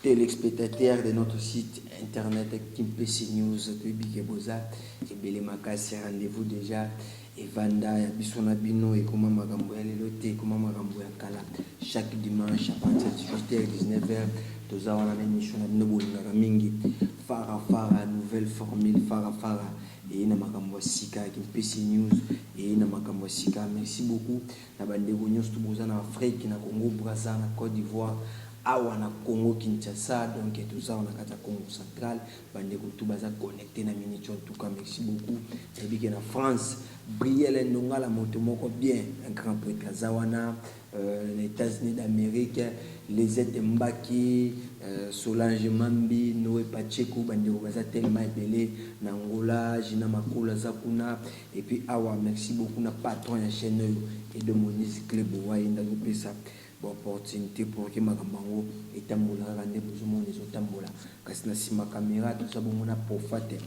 Telespectateurs de notre site internet Kimpese News, toyebi ke boza ebele makasi, rendez-vous dejà evanda ya biso na bino ekoma makambo ya lelo te, ekoma makambo ya kala. Chaque dimanche à partir de 18h et 19h, toza wana na emission na bino bolingaka mingi Fara Fara, nouvelle formule Fara Fara eye na makambo ya sika, Kimpese News eye na makambo ya sika. Merci beaucoup. Na ba ndeko nionso to boza na Afrique, na Congo Brazza, na Cote d'Ivoire, awa na Congo Kinshasa donc toza awa na kati ya Kongo Central ba ndeko tout baza connecte na Minico en tout cas merci beaucoup na yebi ke na France Brielle Ndongala moto moko bien un grand pretre aza wana euh, na Etats-Unis d'Amerique Lisette Mbaki euh, Solange Mambi Noe Pacheco ba ndeko baza tellement ebele na Angola Gina Makola aza kuna Et puis awa merci beaucoup na patron ya chaine oyo Edo Moïse Cle Boa yende azo pesa ba opportunite pour que makambo yango etambola kaka nde bozo mona ezo tambola kasi na sima camera toza bongo na Prophate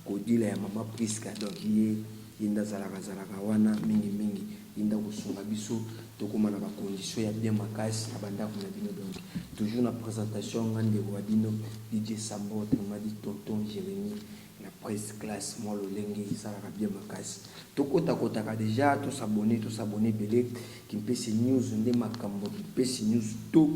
Kodila ya mama Prisca donc ye yende azalaka zalaka wana mingi mingi yende akosunga biso tokoma na ba conditions ya bien makasi na bandako na bino donc toujours na presentation nga ndeko wa bino DJ Sambo autrement dit tonton Jeremie La presse classe mwa lolenge esalaka bien makasi tokota kotaka deja to s'abonner to s'abonner ebele kimpese news nde makambo kimpese news to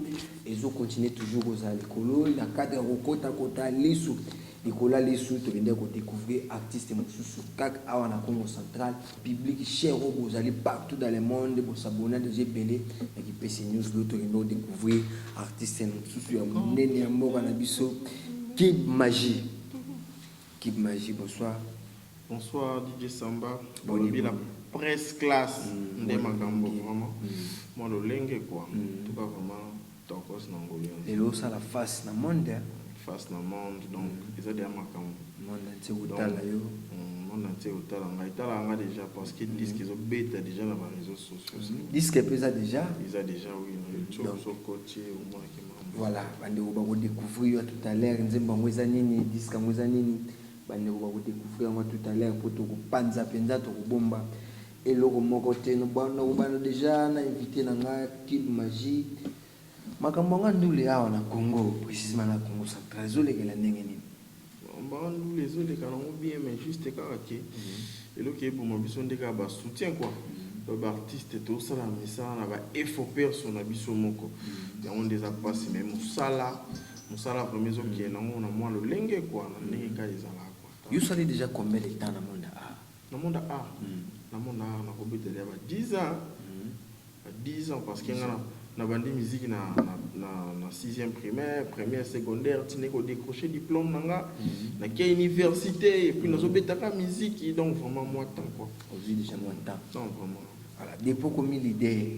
ezo continuer toujours kozala likolo na cadre ya kokota kota lisu likolo ya lisu tokendaki kodecouvrir artiste mosusu kaka awa na congo central public cher oyo bozali partout dans le monde bosabona deja ebele na kimpese news lo tokende kodecouvrir artiste mosusu ya monene ya mboka na biso kib magie Kid magie bonsoir. Bonsoir DJ Samba, balobi la presse classe mm, nde makambo vraiment mm. mwa lolenge quoi mm. tuka vraiment tokos na ngolu ya lelo osala face na monde hein. face na monde donc mm. eza deya makambo monde ntie kotala yo mm, monde ntie kotala ngai etalaka nga déjà parce que mm. disque ezobeta déjà na bareseau sociaux disque mpe eza déjà eza déjà oui na youtube sokotie omonaki Voilà, bandeko bako decouvrir yo tout à l'heure nzembo yango eza nini, disque yango eza nini. Bandeko bako decouvrir yango tout à l'heure po toko panza penza toko bomba eloko moko te. No bana ko bana deja na invité na nga Kid Magie. Makambo ya nga ndule awa na Congo, precisement na Congo central ezo lekela ndenge nini? Vraiment ndule ezo leka na ngo bien mais juste kaka ke eloko eboma biso nde kaka ba soutien quoi ba ba artiste to sala misala na ba effort perso na biso moko yango nde eza pasi mais musala musala vraiment ezo kende na ngo na mwa lolenge quoi na ndenge kaka ezalaka quoi. Yo osali dejà combien de temps na monde art? Na mona art na mona art na ko betela ya ba 10 ans ba 10 ans parce que nga na bandi musique na na sixième primaire première secondaire ti nako decrocher diplome na nga na ke universite et puis nazo beta ka musique donc vraiment mua temps quoi ozui dejà mua temps non vraiment ala depuis okomi leader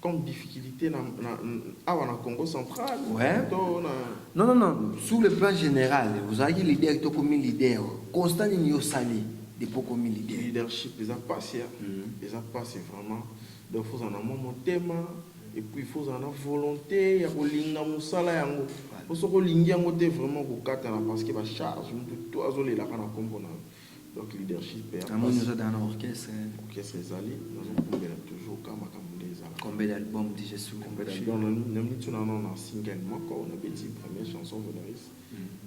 comme difficulite na na awa na Congo central ouais. to na non non non sur le plan général ozalaki leader to komi leader constat nini yo sali depuis komi leader leadership eza pasi ya mm -hmm. eza pasi vraiment donc faut na mwa motema et puis faut na volonté ya kolinga musala yango po soki olingi yango te vraiment kokatana parce que ba charge mutu to azolelaka na kombo na yo Donc leadership ya Namoni pasi. oza dans na orchestre. Orchestre ezali nazo bombela toujours ka makambo nde ezalaka. Combien d'albums dejà sur le Combien marché? d'albums na mitu na no na single moko na beti première chanson Vodaris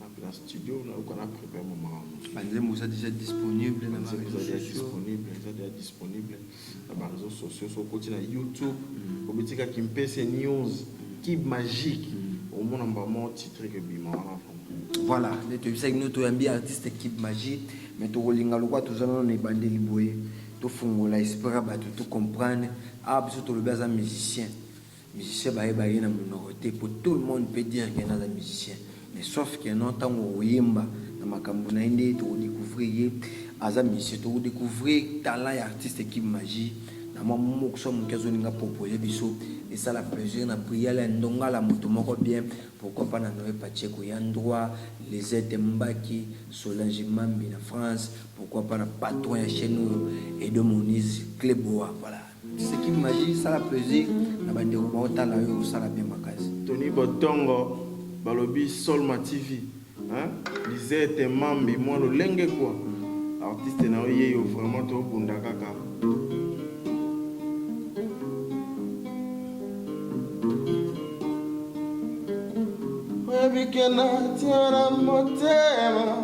na na studio na yoka na prepare maman. Ba nzembo eza dejà disponible na ba Nzembo eza reseaux deja sociaux. disponible eza deja disponible. na ba reseaux sociaux so okoti na youtube obeti ka kimpese news kib magique omona mbala moko titre ke bima wana voilà nde toyebisaki bino toyambi artiste kib magie mais tokolinga lokola toza nano na ebandeli boye tofungola esprit ya bato to comprendre awa biso tolobi aza musicien musicien bayeba ye na munoko te po tout le monde peut dire que naza musicien mais sauf que non ntango okoyemba na makambo na ye nde tokodécouvrir ye aza musicien tokodécouvrir talent ya artiste Kim Magie na mwa mokso ya moke azolinga propose biso esala plaisir na prière ya ndongala moto moko bien pourquoi pas na Noé Pacheco ya ndroit Lisette Mbaki Solange Mambi na France pourquoi pas na patron ya chaîne oyo Edo Moniz Cleboa voilà Seki magie sala plaisir na bandeko baotala yo osala bien makasi. Tony Botongo balobi Solma TV hein? Lisette Mambi mwa lolenge kwa artiste na yo yeyo vraiment tobunda kaka. Oyebi ke natia na motema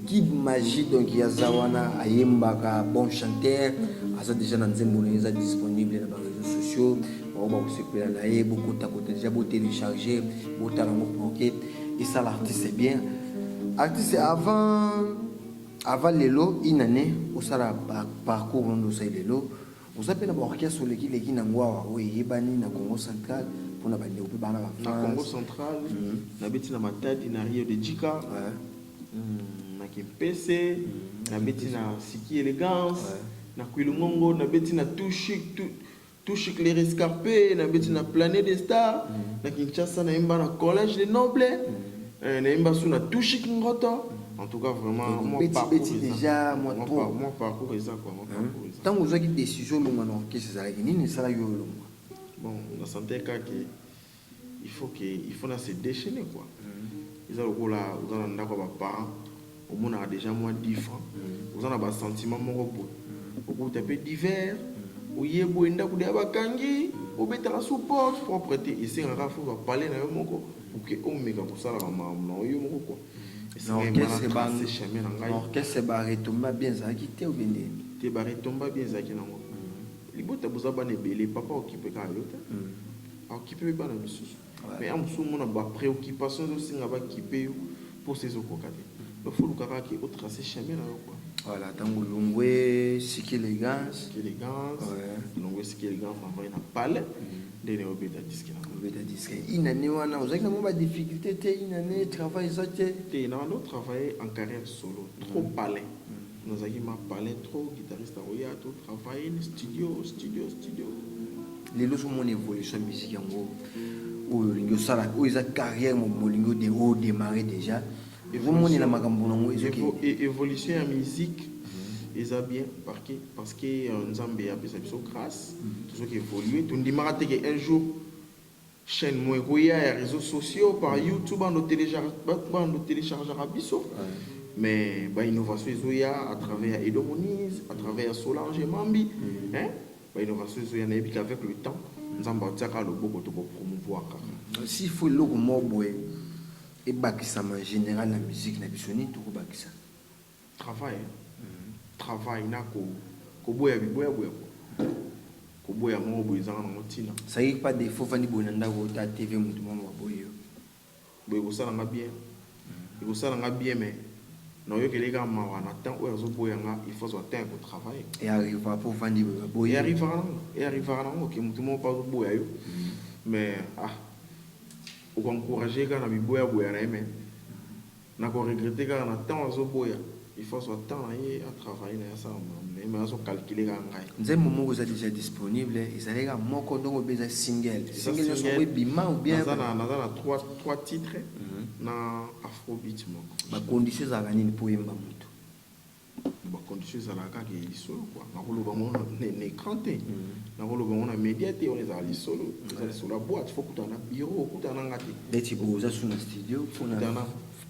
Kid Magie donc ya za wana ayembaka bon chanteur aza deja na nzembo na ye eza disponible na ba réseaux sociaux bango bakosepela na ye bokotakota deja botelecharge botala yango proke esala artiste bien artiste avant avant lelo une année osala parcours ondo osali lelo oza mpe na baorchestre olekileki na yango awa oyo eyebani na congo central mpona bandeko mpe bana na congo central mhm. nabeti na matadi na rio de jika na kimpese na beti na siki elegance na kuilungongo na beti na tushik tu touche les rescapés na beti na planet des stars na kinshasa nayemba na collège de noble nayemba su na touche kingoto en tout cas vraiment mon parcours beti déjà moi trop mon parcours eza quoi mon parcours eza tango ozaki décision longa na orchestre ezalaki nini sala yo longa bon na santé kaka il faut que il faut na se dechainer quoi eza lokola oza na ndako ya ba parents omonaka dejà mwa dix francs oza na ba sentiment moko boye okokuta pe dix verres oye boye ndako dejà bakangi obetaka sous porte propre te esengaka faut ba palais na yo moko pour que omeka kosala ba makambo na yo moko quoi na orchestre ba chemin na ngai orchestre ba retomba bien ezalaki te ou bien nini te ba retomba bien ezalaki nango libota boza bana ebele papa occupeka yo te Okipe pe bana misusu mais heure mosusu omona ba preoccupations ezo senga ba kipe yo posa ezo koka te donc faut oluka kaka ke o tracer chemin na yo quoi. Voilà tango longwe siki elegance. Siki elegance longwe siki elegance na vandi na palais nde naye obeta disque na obeta disque une annee wana ozalaki na mwa ba difficultes te une annee travail eza te. Te na banda o travailler en carrière solo trop palais. Nazalaki ma palin trop guitariste akoya to travailler ni studio studio studio. Lelo so mon evolution musique yango oyo olingi osala oyo eza carrière mo molingi de o démarrer déjà ezomonela makambo nango ezoki e-, évolution ya musique mhm. eza bien parque parce que euh, nzambe apesa biso grâce mhm. tozoki évoluer tondimaka te ke un jour Chaine moko ekoya ya reseaux sociaux par YouTube bando telecharge bando telechargeaka biso mais ba innovation ezoya à travers ya Edo Moniz à travers ya Solange Mambi hein ba innovation ezoya nayebi que avec le temps Nzambe akotiaka loboko to bo promouvoir kaka. S'il faut eloko moko boye ebakisama en general na musique na biso nini tokobakisa? Travail travail na ko koboya biboya boya ko koboya moko boye ezanga nango tina. Ça dire pas defaut ovandi boye na ndaku ota TV mutu moko aloba boyi yo. Boye ekosala nga bien ekosala nga bien mais na oyokeli ye kaka mawa na temps oyo azo boya nga il faut azua temps ya ko travail. E arriva po ovandi boye ba boyi yo. E arrivaka nango e arrivaka nango que mutu moko pe azo boya yo mais ah oko encourager ye kaka na biboya boya na ye mais. Nako regretter kaka na temps azo boya il faut azua temps na ye a travailler na ye asala makambo na ye mais azo calculer kaka ngai. Nzembo moko eza dejà disponible ezalaki kaka moko donc obe eza single single nionso yango ebima ou bien. Naza na naza na trois trois titres na afrobeat moko. Ba conditions ezalaka nini po oyemba mutu? ba condition ezalaka kaka ya lisolo kua nakoloba ngo na ecran te mm. nakoloba ngo na media te wana ezala lisolo eza lisolo ya boite fo kutana na bureau okutana na nga te neti boza su na studio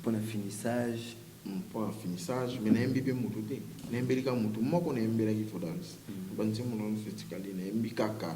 mpona finissage mpona mm, finissage mai nayembi mpe motu te nayembeli kaka motu moko nayembelaki fodaris mm. banzembo na nyonso etikali nayembi kaka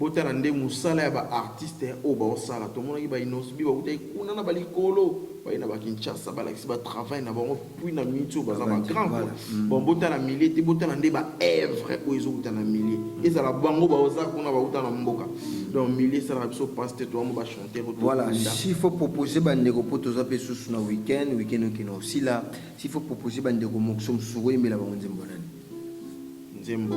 Botala nde musala ya ba artiste oyo bao sala tomonaki ba innosb bakutaki kuna na ba likolo baye na ba kinshasa balakisi ba travail na bango puis na minute oyo baza ba grand quoi bon botala milieu te botala nde ba evre oyo ezowuta na milieu ezala bango baoza kuna bawuta na mboka donc milieu esalaka biso passe te toyamo ba chanteur voilà s'il faut proposer ba ndeko po toza pe susu na week-end week-end okina osila s'il faut proposer ba ndeko mokuso mosusu okoyembela bango nzembo nani nzembo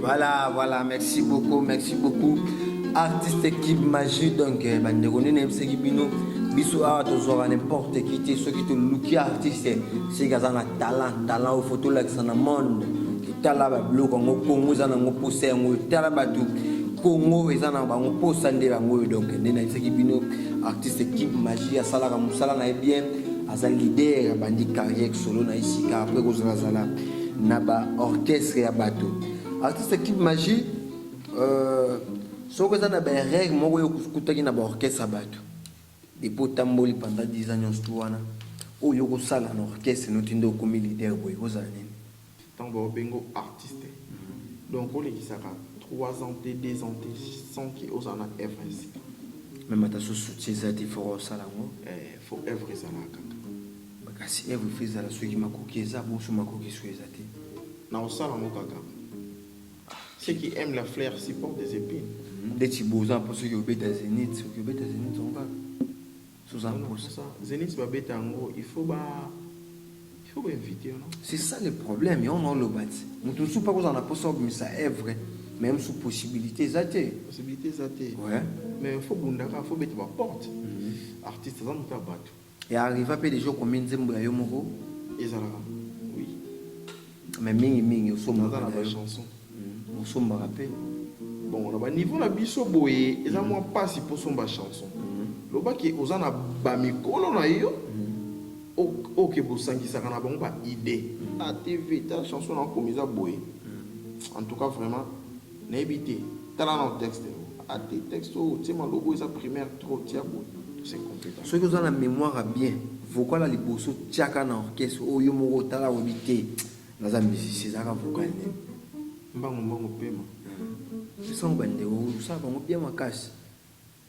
Voilà, voilà, merci beaucoup, merci beaucoup. Artiste équipe magie, donc, eh, bandeko nini ebisaki bino biso awa tozwaka n'importe qui te soki toluki artiste soki aza na talent talent oyo fo tolakisa na monde totala babiloko yango kongo eza nango mposa yango tala bato kongo eza na bango mposa nde yango oyo donc nde nayebisaki bino artiste équipe magie asalaka mosala na ye bien aza leader abandi carrière solo na ye sika apres kozalazala na ba orchestre ya bato artiste kibe magie euh, soki eza na baerreur moko oyo okutaki na baorchestre ya bato epo otamboli pendant 10 ans nyonso tu wana oyo okosala na orchestre noti nde okomi leader boye kozala nini Tango bao bengo artiste donc olekisaka trois ans te deux ans te sans que ozala na œuvre ya sika. Meme ata soki soutien eza te il faut osala yango. Eeh il faut œuvre ezala kaka. Kasi œuvre il faut ezala soki makoki eza bon soki makoki soki eza te. Nakosala yango kaka. Ceux qui aiment la fleur supportent des epines. Ndeti boza po soki obeta zenith soki obeta zenith yango kaka. Suzanne Mposa. Zenith ba beta yango il faut ba il faut ba inviter yo non? C'est ça le problème yango na oloba ti mutu mususu pe akozala na posa obimisa evre mais mususu possibilité eza te. Possibilité eza te. Ouais. Mais il faut bundaka, faut beta ba porte. Mm -hmm. Artiste aza mutu ya batu. Ya arriva pe deja okomi nzembo ya yo moko. Ezalaka. Mais mingi mingi osombaka na ba chanson. Osombaka pe. Bon na ba niveau na biso boye eza mwa pasi po somba chanson. Loba ke oza na ba mikolo na yo oyo ke bosangisaka na bango ba idee. Ta TV ta chanson na komi eza boye en tout cas vraiment Nayebi te tala nao texte yango a te texte oyo otie maloba oyo eza primaire trop tia boye c'est complique. Soki oza na memoire ya bien vocal ya liboso tiaka na orchestre oyo yo moko otala oyebi te naza musicien ezalaka vocal nini? Mbangu mbangu pema. Esango bandeko osalaka yango bien makasi.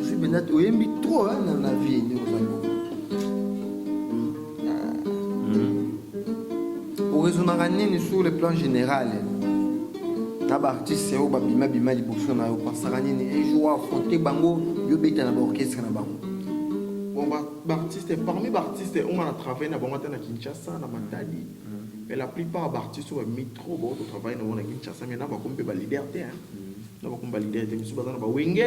Ozwi mpenza te oyembi trop hein, na na vie nde oza ngo oraisonnaka nini sur le plan général na baartiste oyo babimabima liboso na yo pensaka nini un jour affronte bango yo beta na baorchestre na bango bon baartiste parmi baartiste oyo nga na travaille na bango ata na kinshasa na matadi Mais la plupart ba artistes oyo ba mimi trop ba uto travailler na bango na Kinshasa mais na bakomi pe ba leader te hein. Na bakomi ba leader te misusu baza na ba wenge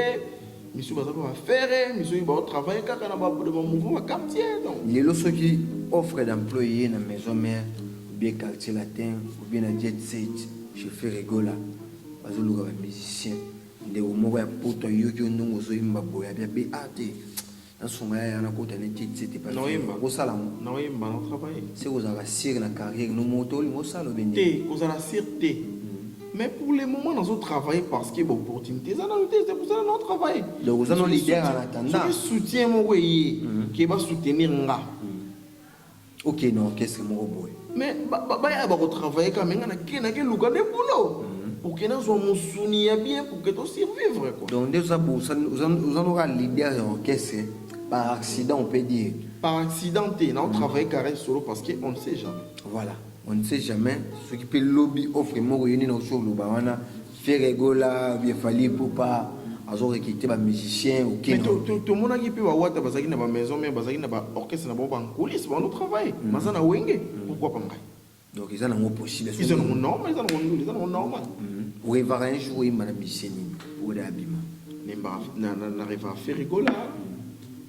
misusu baza pe ba ferre misusu ba travailler kaka na ba de ba mouvement ba quartier donc. Lelo soki offre d'emploi eye na maison mère ou bien quartier latin ou bien na jet set chez Ferre Gola bazo luka ba musiciens ndeko moko ya poto ayoki yo ndenge ozo yemba boye abi abe ah te nasunga ya yana kota ne kiti sete pa naoyemba kosala mo naoyemba na travailler se kozala sire na carrière no moto olinga osala obende te kozala sire te mm. mais pour le moment nazo travailler parce que opportunité eza nanu te c'est pour ça na travailler donc oza no leader en attendant soki soutien moko eye mm. ke ba soutenir nga mm. Ok na orchestre moko boye. Mais ba ba ba ya ba ko travailler quand même na ke na ke luka de boulot. Mhm. Pour que na zo musuni ya bien pour que to survivre quoi. Donc ndezo za bosa oza oza no ka leader ya orchestre par accident on peut dire. Par accident te na on mhm. travailler carré solo parce que on ne sait jamais. Voilà. On ne sait jamais ce qui peut lobby offre moko yoni na oso loba wana Ferre Gola ou bien Fally Ipupa azo recruter ba musiciens au Kin. Tomonaki mpe ba Wata bazalaki na ba maison mère, bazalaki na ba orchestre na bango ba nkulisi ba no travail baza na wenge pourquoi pas ngai donc eza nango possible eza nango normal eza nango ndule eza nango normal orevaka un jour oyemba na musicien nini oyo abima na revaka Ferre Gola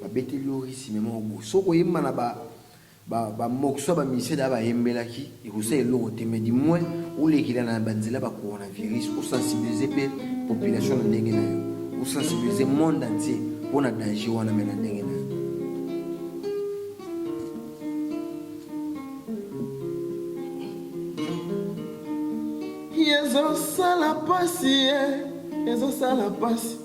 Ba beteli yo risi mais moko gout. Soki oyemba na ba ba ba morceaux ya ba musiciens d'ailleurs ba yembelaki ekosala eloko te mais du moins olekela na ba nzela ba coronavirus o sensibiliser pe population na ndenge na yo. O sensibiliser monde entier pona danger wana mais na ndenge na yo. Ezosala pasi eh, ezosala pasi.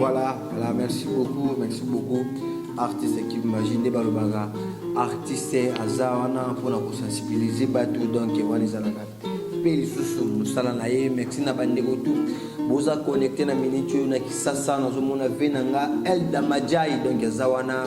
Voilà, voilà, merci beaucoup, merci beaucoup. Artiste qui m'imagine des balobanga. Artiste azawana pour la sensibiliser bateau donc wana ezalaka mpe lisusu mosala na ye merci na bandeko tu boza connecte na minute oyo na kisasa nazomona ve na nga elda majai donc eza wana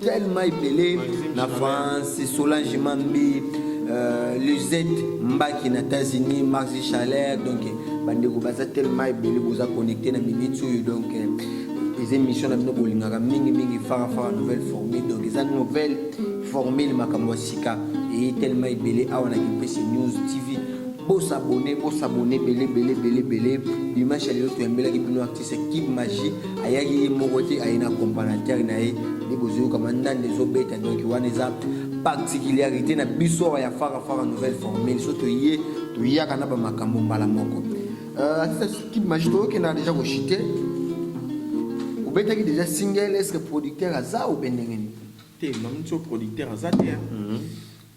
tellement epele na France, Solange Mambi, euh, Luzette Mbaki na États-Unis, Maxi Chalère, donc bandeko baza tellement ebele boza connecté na minute oyo donc euh, eza émission na bino bolingaka mingi mingi fara fara nouvelle formule donc eza nouvelle formule makambo ya sika eye tellement ebele awa na kipese news tv bosabone bosabone ebele ebele ebele ebele dimanche ya lelo toyambelaki bino C'est Kid Magie ayaki ye moko te aye na compagnateur na ye nde bozoyoka mandanda ezobeta donc wana eza particularité na biso awa ya fara fara nouvelle formule so toye toyaka na bamakambo mbala moko euh, atisa Kid Magie toyokenda deja koshite obetaki deja single eske producteur aza obe ndenge nini te mamuti o producteur aza te hein? mm -hmm.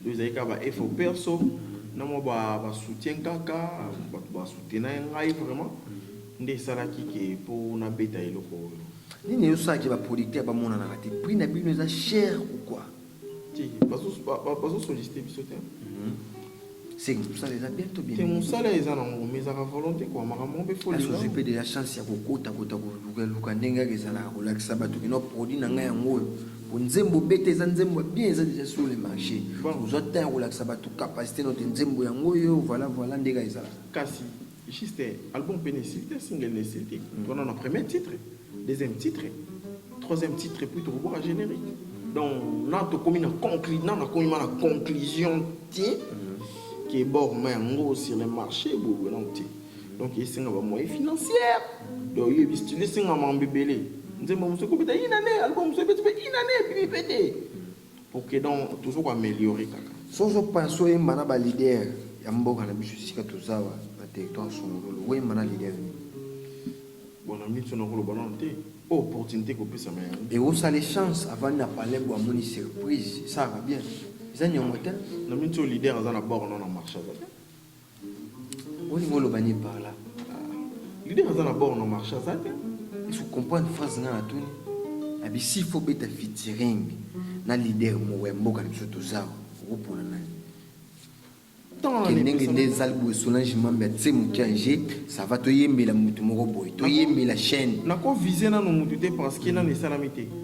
Donc ezalaki kaka ba efforts perso na mwa ba soutiens kaka, batu ba soutena ngai vraiment nde esalaki que po na beta eloko oyo. Nini ezo sala que ba producteurs ba monanaka te? Prix na bino eza cher ou quoi? Te, bazo solliciter biso te. C'est que mosala eza bien to bien? Te, mosala eza nango mais ezalaka volonte quoi, makambo moko pe faut olinga. Est-ce ozwi pe dejà chance ya kokota kota koluka luka ndenge kaka ezalaka kolakisa batu que non produit na ngai yango oyo? Po nzembo beta eza nzembo ya bien eza dejà sur le marche. Ozwa temps ya kolakisa batu capacite no te nzembo yango oyo voilà voilà nde kaka ezalaka. Kasi Juste album pe na esili te single na esili te toza nanu na premier titre, deuxième titre, troisième titre epuis toko bwaka generique donc nanu tokomi na conclu nanu nakomi ma na conclusion te ke bord ma yango sur le marche eboye boye nanu te. donc esenga ba moyen financière donc yo ebisitili esenga mambo ebele nzembo mosusu ekobeta une année album mosusu ebeti mpe une année ebimi mpe te pour que donc toujours koaméliorer kaka soso panso oyemba na balider ya mboka na biso esika tozawa na territoire songololo oyemba na lider nini bona miso nakoloba nano te o oh, opportunité kopesama yango ekosala echance avandi na palais bo amoni surprise esalaka bien eza niongo te na miso leader aza na bord no na marché aza te Olingi oloba nini par là? Leader aza na bord na marché aza te. Il faut comprendre phrase nga natuni. Na bisi faut beta featuring na leader moko ya mboka na biso toza okopona nani? ndenge nde ezali boye solange mambe atse moke ange ça va toyembela motu moko boye toyembela chaîne nakovise nano motu te parce que nano esalami te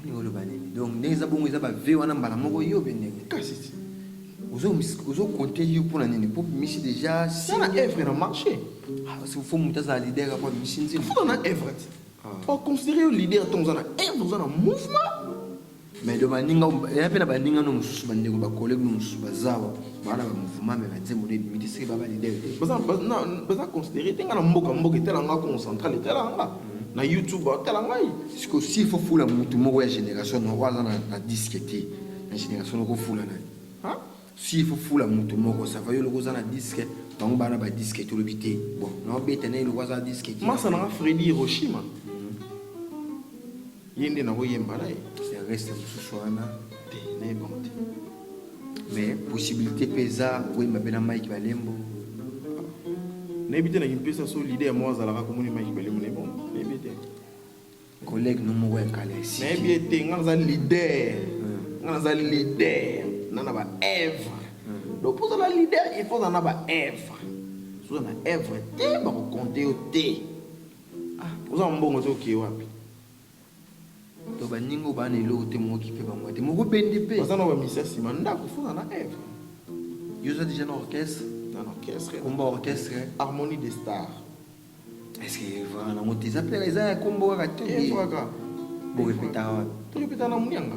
olingi oloba nini donc ndenge eza bongo eza ba vie wana mbala moko yo mpe ndenge kasi ozokonte yo mpona nini mpo misi deja sala evre na marché ah, fo moto azala leader apo misi nzima fo na evre te oconsidere yo leader ntongo oza na evre oza na mouvement mais do baninga ya mpe na baninga no mosusu bandeko bakolege mosusu bazawa bana ba mouvement mais ba nzembo nde ebimi te seke baba leader te baza baza considéré te nga na mboka mboka etala nga congo central etala nga na youtube atala ngai siko si il faut fula mutu moko ya génération na oyo aza na disque te na génération noko fula na ye si il faut fula mutu moko ça va yo loko oza na disque bango bana ba disque te olobi te bon na obeta na ye loko aza disque te masa nanga fredi hiroshima ye nde nakoyemba na ye reste mosusu wana te nayebango te mais possibilité mpe eza koyemba mpe na mike balembo nayebi te nakimpesa so leader moko azalaka komoni mike balembo na ebongo nayebi te collègue no moko ya kala esi nayebi ete nga naza leader hmm. nga naza leader na na baevre hmm. donc ozala leader il faut ozala na baevre soza na evre te bakokonte yo te Ah, oza na mbongo te okie wapi? To baninga oyo baa na eloko te mookipe bango te moko bende mpe baza na bamisi ya nsima ndako fona na eve yo oza déjà na orchestre na orchestre komba orchestre harmonie des stars est-ce que evra nango te eza mpe eza ya kombo kaka te evraka borepetaka wapi torepetaka na monianga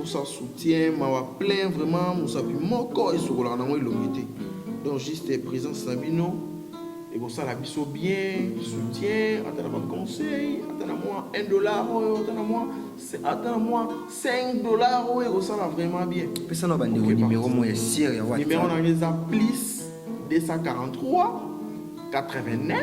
osa soutien mawa plein vraiment mosapi moko esokolaka nango elongi te donc juste présence na bino ekosala biso bien soutien ata na baconseil ata na mwa 1 dollar oyo ata na mwa ata na mwa 5 dollar oyo ekosala vraiment bien pesa na bandeko numero mo ya sire ya whatsapp numero na ngai eza plus 243 89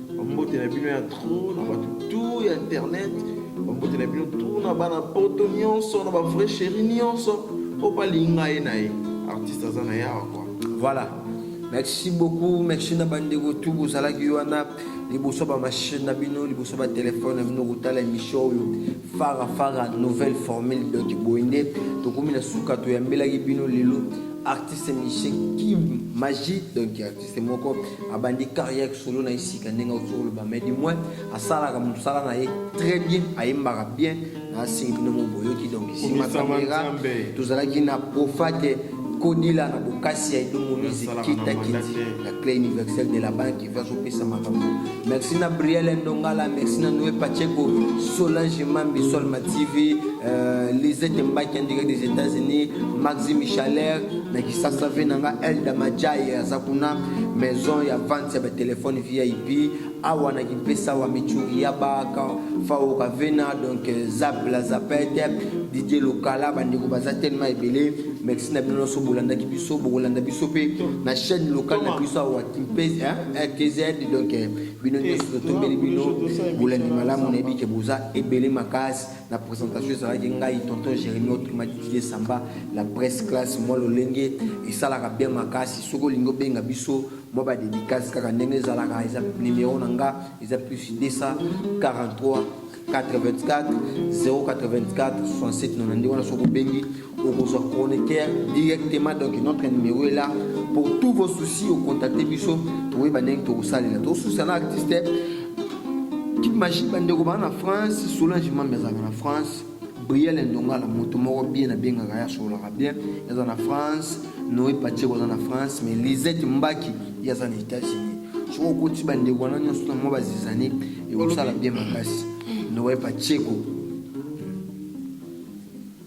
Bambote na bino ya trop na bato tout ya internet bambote na bino tout na bana poto nyonso na bavrai chéri nyonso mpo balinga ye na ye artiste aza na yawa kwa voilà merci beaucoup merci na bandeko tu bozalaki wana liboso bamachine na bino liboso batelefone na bino kotala émission oyo fara fara nouvelle formule donc boye nde tokomi na suka toyambelaki bino lelo artiste musicien kim magie donc artiste moko abandi carrière solo na ye sika ndenge auti koloba mais du moins asalaka mosala na ye très bien ayembaka bien naasili bino mo boyoki donc nsima kamera tozalaki na profate kodila na bokasi ya edomo music kitakiti la clé universelle de la banque ivi azopesa makambo merci na briel ndongala merci na noe pacheco solange mambi solma tv euh, lisete mbaki en direct des états-unis maxi michaler na kisasa ve na nga elda majaye aza kuna maison ya vente ya batelefone vip awa na kimpesa wa michuri ya baka faoka vena donc euh, zap la zapete didie lokala bandeko baza telema ebele merci na bino nyonso bolandaki biso bokolanda biso mpe na chaîne locale na biso awa kimpesa rtz donc euh, bino nyonso totombeli bino bolandi malamu nayebi ke boza ebele makasi na présentation ezalaki ngai tonton jérémi otrimatitile samba la presse classe mwa lolenge esalaka bien makasi soki olingi obenga biso mwa badédicace kaka ndenge ezalaka eza numero na nga eza plus 243 84 084 67 nona nde wana soki obengi okozwa chroniqueur directement donc notre numéro est là pour tous vos soucis ocontacte biso toyeba ndenge tokosalela tosusa na artiste magie bandeko baa na france solange mambi azalaka na france briel ndongala moto moko bien abengaka ye asololaka bien aza na france noe patieko aza na france mais lisette mbaki ye aza na états-unis soki okoti bandeko wana nyonso na mwa bazizani ekosala bien makasi noe patieko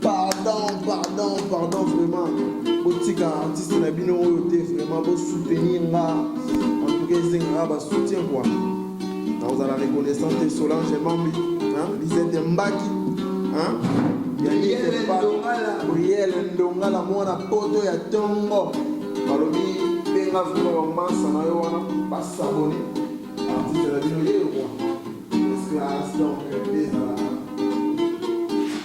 Pardon, pardon, pardon, vraiment. Botika artiste na bino oyo te vraiment bo soutenir nga. En tout cas, ezengaka ba soutien quoi. Nakozala reconnaissant te Solange Mambi, hein, Lisette Mbaki, hein. Yannick Mpa, Briel Ndongala mwana poto ya tongo. Balobi benga vraiment ba mansa na yo wana ba s'abonner. Artiste na bino yeye quoi. Classe donc.